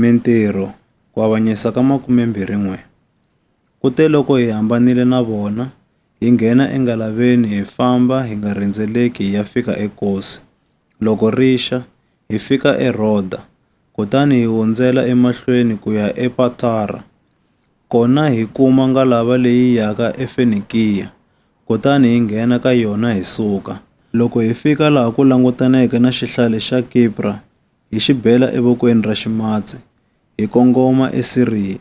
Mintirho, Ku avanyisa ka 21 Kuteloko hi hambanile na vona, hi nghena engalaveni hi famba hi nga rhendzeleki hi ya fika eKosi. Loko ri xa, hi fika eRhoda, kutani hi hundzela emahlweni ku ya ePatara. Kona hi kuma ngalava leyi yaka eFenikiya, kutani hi nghena ka yona hi suka. Loko hi fika laha ku langutaneke na xihlale xa Kipra, hi xi bela evokweni ra ximatsi, hi kongoma eSiriya,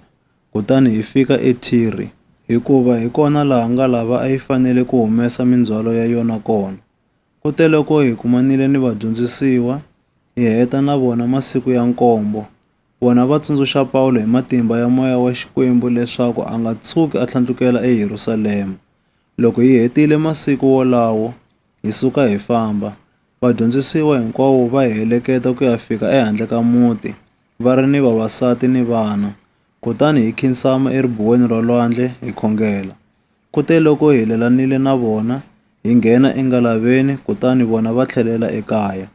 kutani hi fika eThire, hikuva hi kona laha ngalava a yi fanele ku humesa mindzhwalo ya yona kona. Kuteloko hi kumanile ni vadyondzisiwa, hi heta na vona masiku ya nkombo, vona va tsundzuxa Pawulo hi matimba ya moya wa Xikwembu leswaku a nga tshuki a tlhandlukela eYerusalema. Loko hi hetile masiku wolawo, hi suka hi famba. Vadyondzisiwa hinkwavo va hi heleketa ku ya fika ehandle ka muti, va ri ni vavasati ni vana. Kutani hi khinsama eribuweni ra lwandle hi khongela. Kuteloko hi helelanile na vona, hi nghena engalaveni kutani vona va tlhelela ekaya.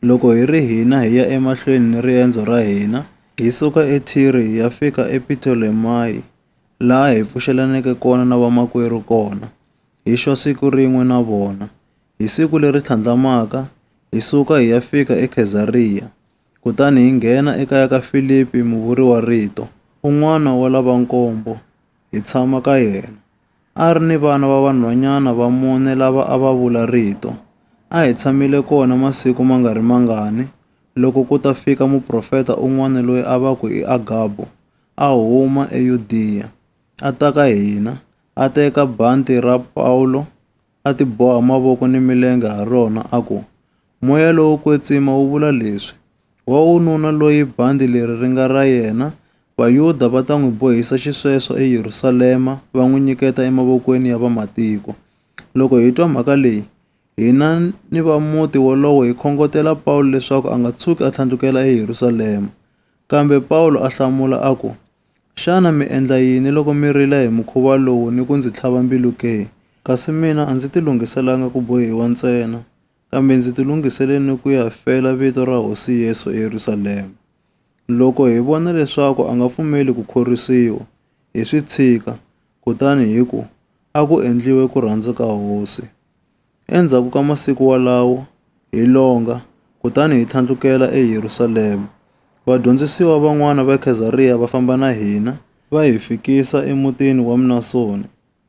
Loko hi ri hina hi ya emahlweni ni riendzo ra hina, hi suka eThire hi ya fika ePitolemayi, laha hi pfuxelaneke kona na vamakwerhu kona, hi xwa siku rin'we na vona. Hi siku leri tlhandlamaka, hi suka hi ya fika eKhezariya, kutani hi nghena ekaya ka Filipi muvuriwa-rito, un'wana wa lava nkombo, hi tshama ka yena. A ri ni vana va vanhwanyana va mune lava a va vula Rito. A hi tshamile kona masiku ma nga ri mangani, loko ku ta fika muprofeta un'wana loyi a va ku i Agabo, a huma eYudiya, a ta ka hina, a teka bandhi ra Pawulo, a tiboha mavoko ni milenge ha rona, a ku, Moya lowo kwetsima wu vula leswi, Wa ununa loyi bandhi leri ri nga ra yena, Vayuda va ta n'wi bohisa xisweswo eYerusalema, va n'wi nyiketa emavokweni ya vamatiko. Loko hi twa mhaka leyi, hina ni va muti wolowo hi khongotela Pawulo leswaku a nga tshuki a tlhandlukela eYerusalema. Kambe Pawulo a hlamula a ku, Xana mi endla yini loko mi rila hi mukhuva lowu ni ku ndzi tlhava mbilu ke? Kasi mina a ndzi tilunghiselanga ku bohiwa ntsena, kambe ndzi tilunghisele ni ku ya fela vito ra Hosi Yesu eYerusalema. Loko hi vona leswaku a nga pfumeli ku khorwisiwa, hi swi tshika, kutani hi ku, A ku endliwe ku rhandza ka Hosi. Endzhaku ka masiku walawo, hi longa, kutani hi tlhandlukela eYerusalema. Vadyondzisiwa van'wana va Khezariya va famba na hina, va hi fikisa emutini wa Mnasoni,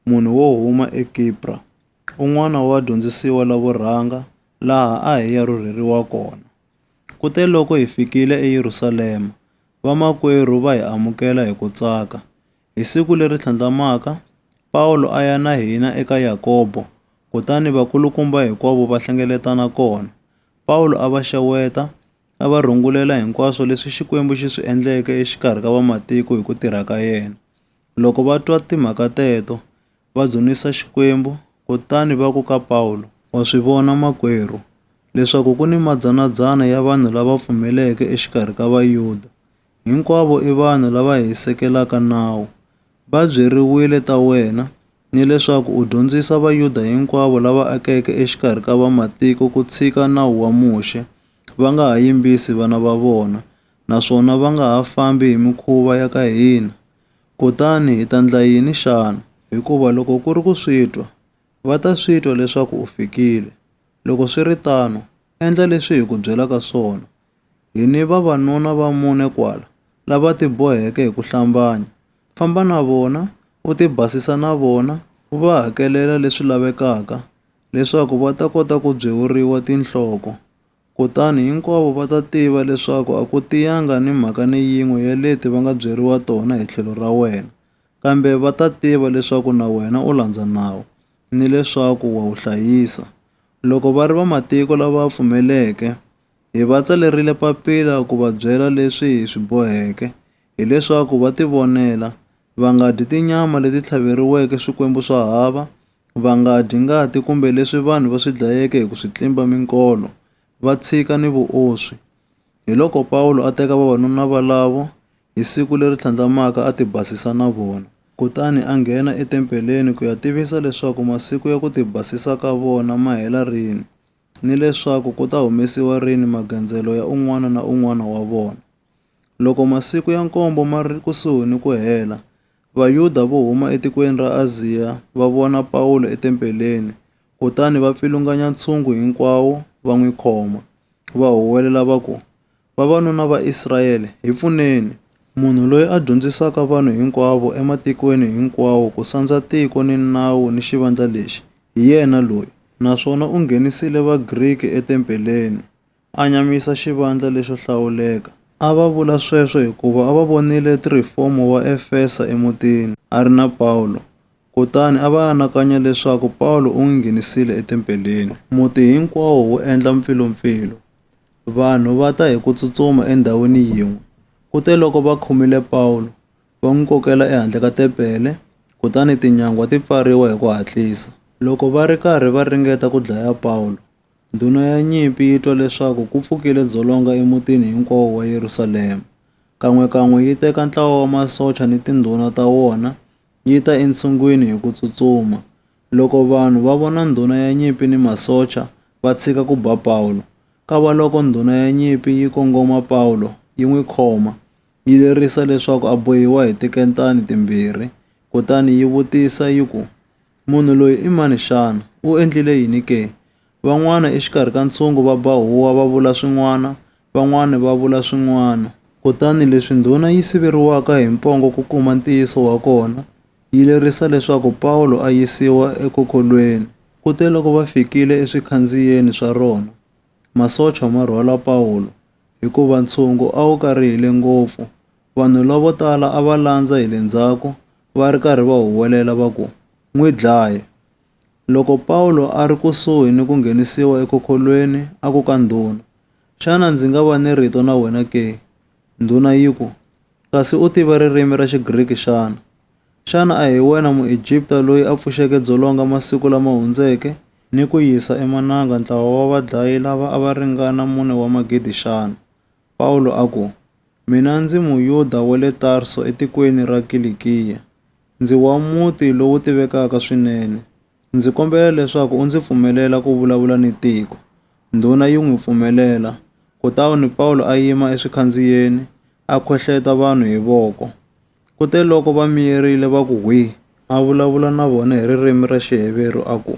munhu wo huma eKipra, un'wana wa vadyondzisiwa lavo rhanga, laha a hi ya rhurheriwa kona. Kuteloko hi fikile eYerusalema, vamakwerhu va hi amukela hi ku tsaka. Hi siku leri tlhandlamaka, Pawulo a ya na hina eka Yakobo, kutani vakulukumba hinkwavo va hlengeletana kona. Pawulo a va xeweta, a va rungulela hinkwaswo leswi Xikwembu xi swi endleke exikarhi ka vamatiko hi ku tirha ka yena. Loko va twa timhaka teto, va dzunisa Xikwembu, kutani va ku ka Pawulo, Wa swi vona makwerhu, leswaku ku ni madzana-dzana ya vanhu lava pfumeleke exikarhi ka Vayuda, hinkwavo i vanhu lava hisekelaka nawu. Va byeriwile ta wena, ni leswaku u dyondzisa Vayuda hinkwavo lava akeke exikarhi ka Vamatiko ku tshika nawu wa Muxe, va nga ha yimbisi vana va vona, naswona va nga ha fambi hi mikhuva ya ka hina. Kutani hi ta ndla yini xana? Hikuva loko ku ri ku swi twa, va ta swi twa leswaku u fikile. Loko swi ri tano, endla leswi hi ku byelaka swona, Hi ni vavanuna va mune kwala lava tiboheke hi ku hlambanya. Famba na vona, u tibasisa na vona, u va hakelela leswi lavekaka leswaku va ta kota ku byewuriwa tinhloko. Kutani hinkwavo va ta tiva leswaku a ku tiyanga ni mhaka ni yin'we ya leti va nga byeriwa tona hi tlhelo ra wena, kambe va ta tiva leswaku na wena u landza nawu ni leswaku wa wu hlayisa. Loko va ri vamatiko lava pfumeleke, Hi va tsalerile papila ku va byela leswi hi swi boheke, hileswaku va tivonela, va nga dyi tinyama leti tlhaveriweke swikwembu swa hava, va nga dyi ngati kumbe leswi vanhu va swi dlayeke hi ku swi tlimba minkolo, va tshika ni vuoswi. Hiloko Pawulo a teka vavanuna valavo hi siku leri tlhandlamaka a tibasisa na vona. Kutani a nghena etempeleni ku ya tivisa leswaku masiku ya ku tibasisa ka vona ma hela rini. ni leswaku ku ta humesiwa rini magandzelo ya un'wana na un'wana wa vona. Loko masiku ya nkombo ma ri kusuhi ni ku hela, Vayuda vo huma etikweni ra Aziya va vona Pawulo etempeleni kutani va pfilunganya ntshungu hinkwawo va n'wi khoma, va huwelela va ku, Vavanuna va Israyele, hi pfuneni! Munhu loyi a dyondzisaka vanhu hinkwavo ematikweni hinkwawo ku sandza tiko ni nawu ni xivandla lexi, hi yena loyi. Naswona u nghenisile Vagriki etempeleni, a nyamisa xivandla lexo hlawuleka. A va vula sweswo hikuva a va vonile Tirifomo wa Efesa emutini, a ri na Pawulo. Kutani a va anakanya leswaku Pawulo u n'wi nghenisile etempeleni. Muti hinkwawo wu endla mpfilumpfilu. Vanhu va ta hi ku tsutsuma endhawini yin'we. Kuteloko va khomile Pawulo, va n'wi kokela ehandle ka tempele, kutani tinyangwa ti pfariwa hi ku hatlisa. Loko va ri karhi va ringeta ku dlaya Pawulo, ndhuna ya nyimpi yi twa leswaku ku pfukile dzolonga emutini hinkwawo wa Yerusalema. Kan'we-kan'we yi teka ntlawa wa masocha ni tindhuna ta wona, yi ta entshungwini hi ku tsutsuma. Loko vanhu va vona ndhuna ya nyimpi ni masocha, va tshika ku ba Pawulo. Kavaloko ndhuna ya nyimpi yi kongoma Pawulo, yi n'wi khoma, yi lerisa leswaku a bohiwa hi tikentani timbirhi. Kutani yi vutisa yi ku, Munhu loyi i mani xana? U endlile yini ke? Van'wana exikarhi ka ntshungu va ba huwa va vula swin'wana, van'wana va vula swin'wana. Kutani leswi ndhuna yi siveriwaka hi mpongo ku kuma ntiyiso wa kona, yi lerisa leswaku Pawulo a yisiwa ekokolweni. Kuteloko va fikile eswikhandziyeni swa rona, masocha ma rhwala Pawulo, hikuva ntshungu a wu karihile ngopfu. Vanhu lavo tala a va landza hi le ndzhaku, va ri karhi va huwelela va ku, N'wi dlaye! Loko Pawulo a ri kusuhi ni ku nghenisiwa ekhokhorhweni, a ku ka ndhuna, Xana ndzi nga va ni rito na wena ke? Ndhuna yi ku, Kasi u tiva ririmi ra Xigriki xana? Xana a hi wena Muegipta loyi a pfuxeke dzolonga masiku lama hundzeke, ni ku yisa emananga ntlawa wa vadlayi lava a va ringana mune wa magidi xana? Pawulo a ku, Mina ndzi Muyuda wa le Tarso etikweni ra Kilikiya, Ndzi wa muti lowu tivekaka swinene. Ndzi kombela leswaku u ndzi pfumelela ku vulavula ni tiko. Ndhuna yi n'wi pfumelela. Kutani Pawulo a yima eswikhandziyeni, a khohleta vanhu hi voko. Kute loko va miyerile va ku hwii, a vulavula na vona hi ririmi ra Xiheveru a ku,